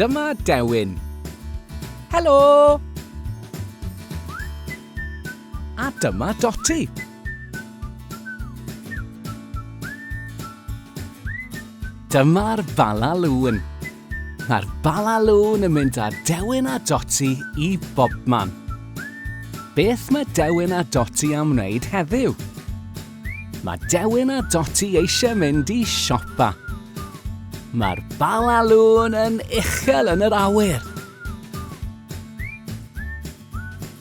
Dyma Dewin. Helo! A dyma Doti. Dyma'r balalŵn. Mae'r balalŵn yn mynd â Dewin a Doti i bobman. Beth mae Dewin a Doti am wneud heddiw? Mae Dewin a Dotty eisiau mynd i siopa. Mae'r balalŵn yn uchel yn yr awyr.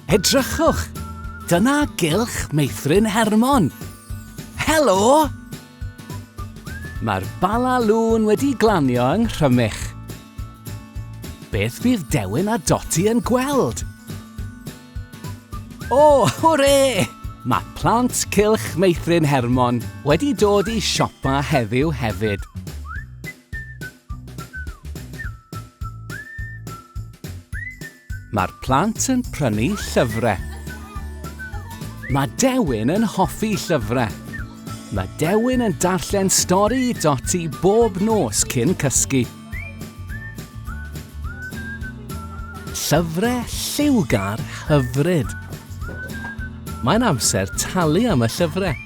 Edrychwch! Dyna gylch Meithrin Hermon. Helo! Mae'r balalŵn wedi glanio yng Nghrymych. Beth bydd Dewin a Doti yn gweld? O, hwre! Mae plant Cylch Meithrin Hermon wedi dod i siopa heddiw hefyd. Mae'r plant yn prynu llyfrau. Mae Dewin yn hoffi llyfrau. Mae Dewin yn darllen stori i Doti bob nos cyn cysgu. Llyfrau lliwgar hyfryd. Mae'n amser talu am y llyfrau.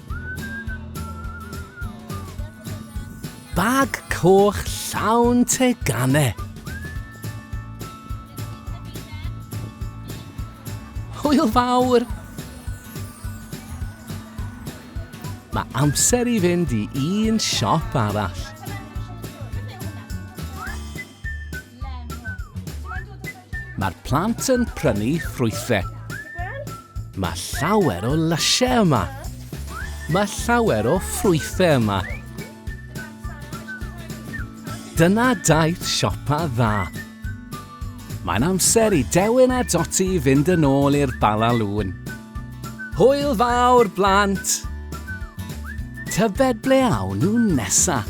Bag coch llawn teganau. Hwyl fawr! Mae amser i fynd i un siop arall. Mae'r plant yn prynu ffrwythau. Mae llawer o lysiau yma. Mae llawer o ffrwythau yma. Dyna daith siopa dda. Mae'n amser i Dewin a Doti fynd yn ôl i'r Bala Lŵn. Hwyl fawr, blant! Tybed ble awn nhw nesaf?